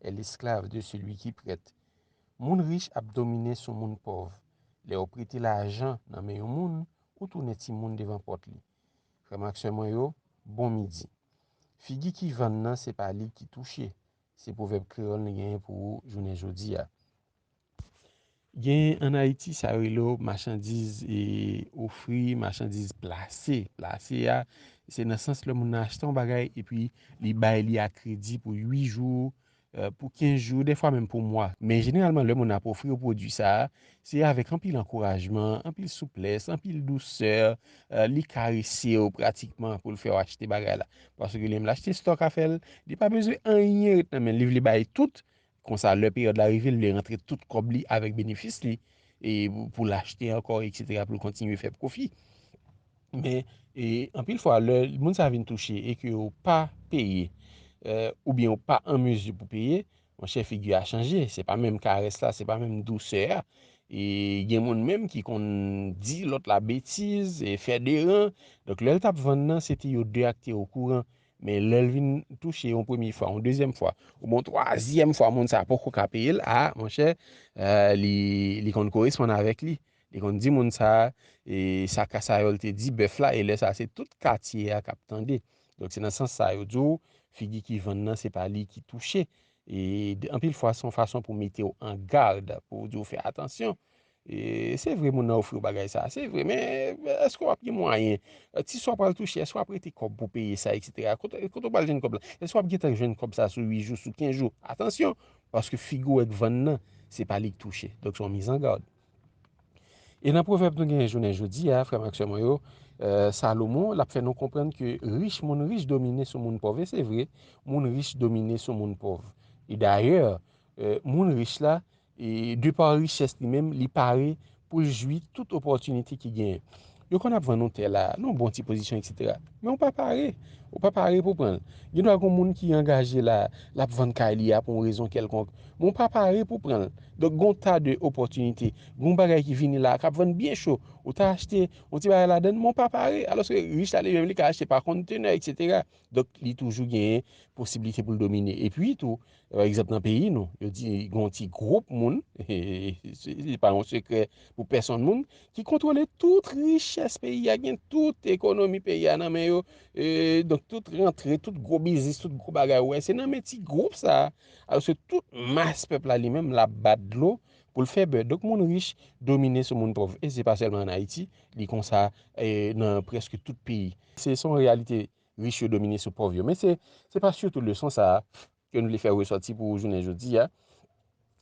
est l'esclave de celui qui prête moun rich ap domine sou moun pòv lèw prete lajan nan men yon moun ou tounen timoun devan pòt li frèm ak sè mwen yo bon midi figi ki vann nan se pa li ki touche se pwovèb kreyòl n genyen pou ou jounen jodi a Genyen an Ayiti sa yo rele yo machandiz ofri, machandiz plase. Plase a, se nan sans lè moun nan achte yon bagay epi li bay li a kredi pou 8 jou, pou 15 jou, defwa menm pou mwa. Men jeneralman lè moun nan ap ofri yo pwodui sa a, se avèk anpil ankourajman, anpil souplès, anpil dousè, li karese w pratikman pou l fè w achte bagay la. Paske lè l achte stòk afè l, li pa bezwen anyen ret nan men l, li vle bay tout Konsa lè peryòd la rive l vle rantre tout kòb li avèk benefis li e pou l achte ankò eksètera pou l kontinye fè pwofi. Men e anpil fwa lè moun sa vin touche e ke yo pa peye euh, ou byen yo pa an mezi pou peye, mwen chè figi a chanje, se pa menm karès la, se pa menm dousè a. E gen moun menm ki konn di lòt la betiz, e fè deran. Donk lè l t ap vann nan se te yo de ak te okouran. Men lè l vin touche yon premye fwa, yon dezyèm fwa, ou bon twazyèm fwa moun sa poko ka peye l, a, monchè, euh, li, li konn koresponn avèk li. Li konn di moun sa, e sa Kasayòl te di bèf la, e lè sa se tout katye a k ap tande. Donk se nan sans sa yo di w, figi ki vann nan se pa li ki touche. E anpil fwa se yon fason pou mete w an gad, pou di w fè atansyon. Se vre moun nan ofri w bagay sa, se vre men eske w ap gen mwayen, ti sa w pral touche eske w ap rete kòb pou peye sa eksetera, kote w pral jwenn kòb la, eske w ap gentan jwenn kòb sa sou 8 jou, sou 15 jou, atansyon, paske figi w wè k vann nan, se pa li k touche, donk se yon mizangad. E nan pwovèb nou genyen jounen jodi a, frè m ak sè mwen yo, Salomon l ap fè nou konprann ke rich, moun rich domine sou moun pòv, e se vre, moun rich domine sou moun pòv, e dayè, moun rich la, E de par richès li menm, li pare pou l jwi tout opòtinite ki genyen. Yo konn ap vann yon tè la, nan yon bon ti pozisyon eksetera. Men ou pa pare, ou pa pare pou pran l. Gen dwa gen yon moun ki angaje la, l ap vann kay li a pou yon rezon kèlkonk. Men ou pa pare pou pran l. Donk gen yon tas de opòtinite, gen yon bagay ki vini la, k ap vann byen cho. Ou ta achte yon ti bagay ladan l, men ou pa pare. Alòske rich la li menm, li ka achte pa kontenè eksetera. Donk li toujou genyen posiblite pou l domine. E pi tou, Pa egzanp nan peyi nou, yo di gen yon ti gwoup moun, se pa yon sekrè pou pèsonn moun, ki kontwole tout richès peyi a, gen tout ekonomi peyi a nan men yo, donk tout rantre, tout gwo biznis, tout gwo bagay ou wè, se nan men ti gwoup sa, alòske tout mas pèp la li menm l ap bat dlo pou l fè bè. Donk moun rich domine sou moun pòv e se pa sèlman an Ayiti, li konsa nan prèske tout peyi. Se yon reyalite rich yo domine sou pòv yo. Men se se pa sitou leson sa a ke nou vle fè resòti pou jounen jodi a,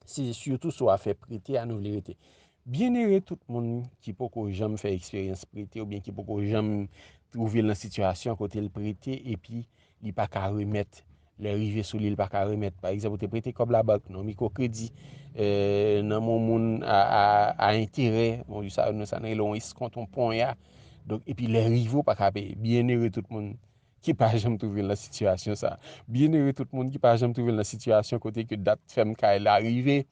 se sitou sou afè prete a nou vle rete. Byennere tout moun ki poko janm fè eksperyans prete oubyen ki poko janm twouve l nan sitiyasyon kote l prete epi li pa ka remèt Lè rive sou li l pa ka remèt. Pa egzanp ou te prete kòb labank nan mikwokredi, nan men yon moun a enterè, bon sa nou sa nou rele yon eskont, yon ponya, donk epi lè rive ou pa ka peye. Byennere tout moun ki pa janm twouve l nan sitiyasyon sa. Byennere tout moun ki pa janm twouve l nan sitiyasyon kote ke dat fèm kay la rive,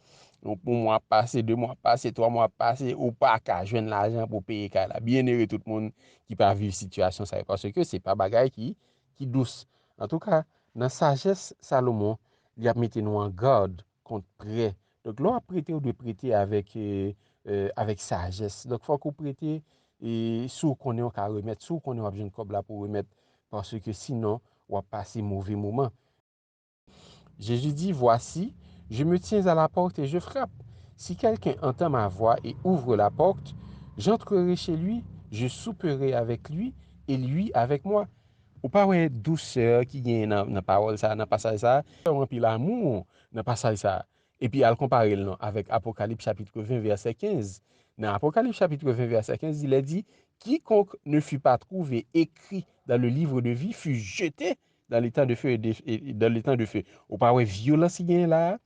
yon mwa ap pase, de mwa ap pase, twa mwa ap pase, ou pa ka jwenn lajan pou peye kay la. Byennere tout moun ki pa viv sitiyasyon sa yo, paske se pa bagay ki ki dous. Antouka, nan sajès Salomon, li ap mete nou an gad kont prè. Donk, lè w ap prete, ou dwe prete avèk, avèk sajès. Donk, fòk ou prete si w konnen ou ka remèt, si w konnen w ap jwenn kòb la pou w remèt. Paske sinon, w ap pase move moman. Jésus dit, Voici, je me tiens à la porte et je frappe. Si quelqu'un entend ma voix et ouvre la porte, j'entrerai chez lui, je souperai avec lui et lui avec moi. Ou pa wè dousè ki genyen nan pawòl sa, nan pasaj sa? Fè w anpil amou nan pasaj sa. Epi al konpare l non avèk Apokalip chapitre 20 vèsè 15. Nan Apokalip chapitre 20 vèsè 15 li lè di, Quiconque ne fut pas trouvé écrit dans le livre de vie fut jeté Dans le temps de feu dans le temps de feu. Ou pa wè violence ki genyen la a?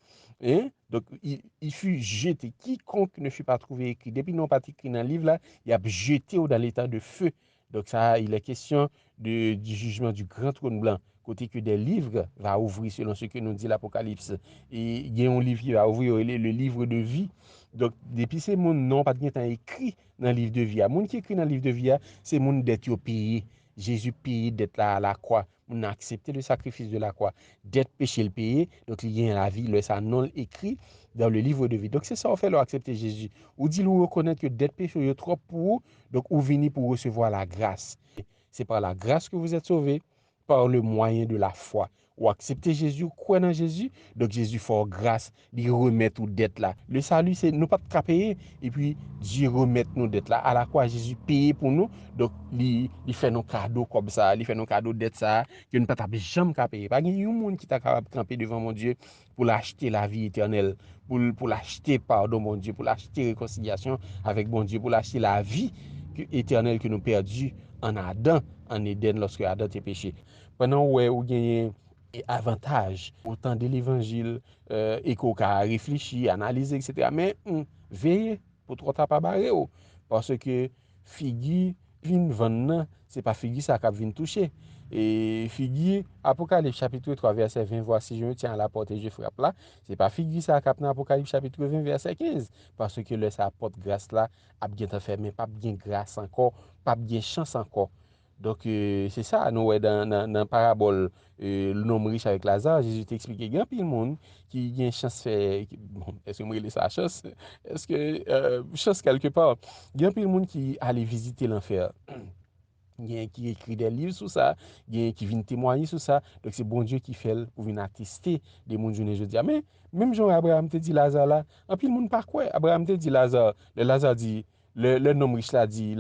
Hein? Donc, il fut jeté. Quiconque ne fut pas trouvé écrit. Depi non pat écrit nan liv la, y ap jete ou dans le temps de feu. Donc sa a, il est question de, du jugement du grand trône blanc. Kote ke des livres va ouvrir selon ce que nous dit l'Apocalypse. E gen yon liv ki va ouvrir yo rele le livre de vie. Donc, depi se moun non pat gentan écrit nan liv de vie a. Moun ki écrit nan liv de vie a, se moun dèt yo peye. Jezi peye dèt la a la kwa, moun nan aksepte le sakrifis de la kwa, dèt peche l peye, donk li genyen lavi, lè sa non l ekri dans le livre de vie. Donk se sa w fè lè w aksepte Jezi, ou di l ou rekonèt ke dèt peche w yo twòp pou ou, donk ou vini pou w resevwa la gras. Se par la grâce que vous êtes sauvés, par le moyen de la foi. Ou aksepte Jezi ou kwè nan Jezi donk Jezi fè w gras li remèt ou dèt la le salut se nou pat ka peye epi Dye remèt nou dèt la ala kwa Jezi peye pou nou donk li li fè nou kado kòb sa li fè nou kado dèt sa ke nou pa tap janm ka peye pa gen yon moun ki ta kapab kanpe devan Bondye pou l achte lavi etènèl, pou l achte padon Bondye, pou l achte rekonsilyasyon avèk Bondye, pou l achte lavi etènèl ke nou pèdi an Adan, an Edenn, lòske Adan te peche. Pandan ou wè ou genyen avantaj, ou tande levanjil, e ke w ka reflechi, analize, eksetera, men, veye pou twò ta pa bare w, paske, Figi pin van nan, se pa figi sa k'ap vin touche. E figi, Apokalip chapitre 3 vèsè 20, Vwasi je me tyen a la pòt e je frap la, se pa figi sa k'ap nan Apokalip chapitre 20 vèsè 15. Paske lè sa pòt gras la ap gentan fèmen, p'ap gen gras ankò, p'ap gen chans ankò. Donk, se sa a nou wè nan parabòl nonm rich avèk Lazare, Jezi te eksplike gen anpil moun ki gen chans fè, èske m rele sa chans? Èske, chans kèlke pa, gen anpil moun ki ale vizite lanfè. Gen ki ekri de liv sou sa, gen ki vin temwaye sou sa, donk se Bondye ki fè l pou vin ateste de moun jounen jodi a. Men, menm jan Abraram te di Lazare la, anpil moun pa kwè. Abraram te di Lazare, lè Lazare di, Lè nonm rich la di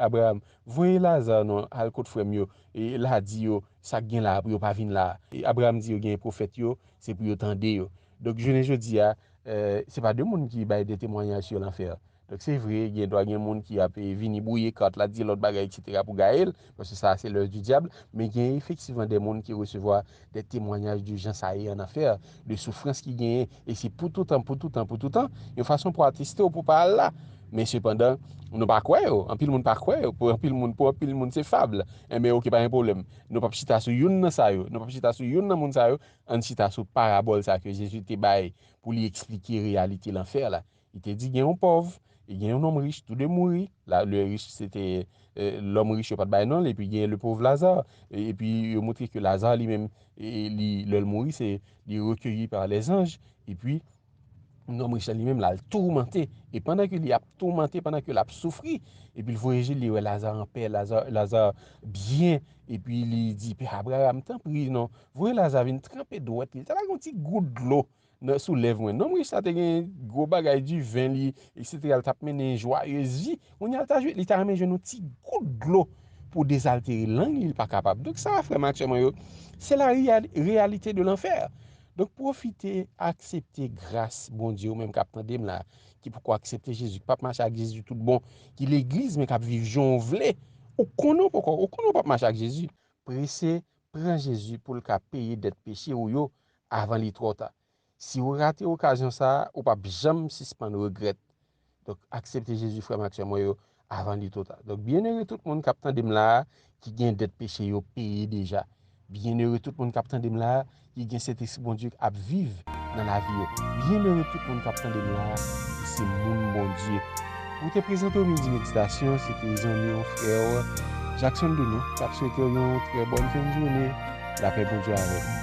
Abraram, Voye Lazar non al kot frè m yo, e la di yo sa k gen la a pou yo pa vin la a. Abraram di yo genyen pwofèt yo, se pou yo tande yo. Donk jounen jodi a, se pa de moun ki bay de temwanyaj sou lanfè. Donk se vre, gen dwa gen moun ki ap vini bwouye kat la, di lòt bagay eksetera pou gaye l, paske sa a se lòs di dyab, men genyen efektivman de moun ki resevwa Des témoignages de jan sa ye an anfè, de soufrans ki genyen, e se pou toutan, pou toutan, pou toutan, yon fason pou ateste w pou w pa al la. Men sepandan, nou pa kwè yo, anpil moun pa kwè yo, pou anpil moun, pou anpil moun se fable. Enben ok, pa gen pwoblèm. Nou p ap chita sou youn nan sa yo, nou p ap chita sou youn nan moun sa yo, ann chita sou parabòl sa ke Jezi te bay pou li eksplike reyalite lanfè la. Li te di gen yon pòv e gen yon nonm rich, tou de mouri. La, le rich se te lòm rich yo pa t bay non l, epi gen le pov Laza. Epi yo montre ke Laza li menm, li lè l mouri se li rekeyi pa lèzanj. Epi nonm rich la li menm la l toumante. E pandan ke li ap toumante, pandan ke l ap soufri, epi l voye je l, li wè Laza an pè, Laza, Laza byen. Epi li di, Pè Abraram, tanpri non, voye Laza vin tranpe dwèt li. Li ta bay yon ti gout dlo. Nan sou lèv mwen. Nonm rich sa te gen gwo bagay, diven li, eksetera, li t ap mennen jwayez vi. Kounye a l ta jwe, li ta renmen jwenn yon ti gout dlo pou dezaltere lang li, li pa kapab. Donk sa a frè m ak sè mwen yo, se la reyalite de lanfè. Donk pwofite, aksepte gras Bondye ou menm k ap tande m la, ki poko aksepte Jezi, k p ap mache ak Jezi tout bon, ki legliz men k ap viv jan w vle, ou konnen w poko, ou konnen w p ap mache ak Jezi. Prese pran Jezi pou l ka peye dèt peche ou yo avan li twò ta. Si ou rate okazyon sa a, ou pap janm sispann regrèt. Donk aksepte Jezi frè m ak sè mwen yo avan li two ta. Donk byennere tout moun kap tande m la a ki gen dèt peche yo peye deja. Byennere tout moun kap tande m la a ki gen Sentespri Bondye ap viv nan lavi yo. Byennere tout moun kap tande m la a ki se moun Bondye. Mwen te prezante w Midi Meditasyon, se te zanmi w, frè w, Jackson Dono, k ap swete w yon trè bòn fen jounen, lapè Bondye avèk ou.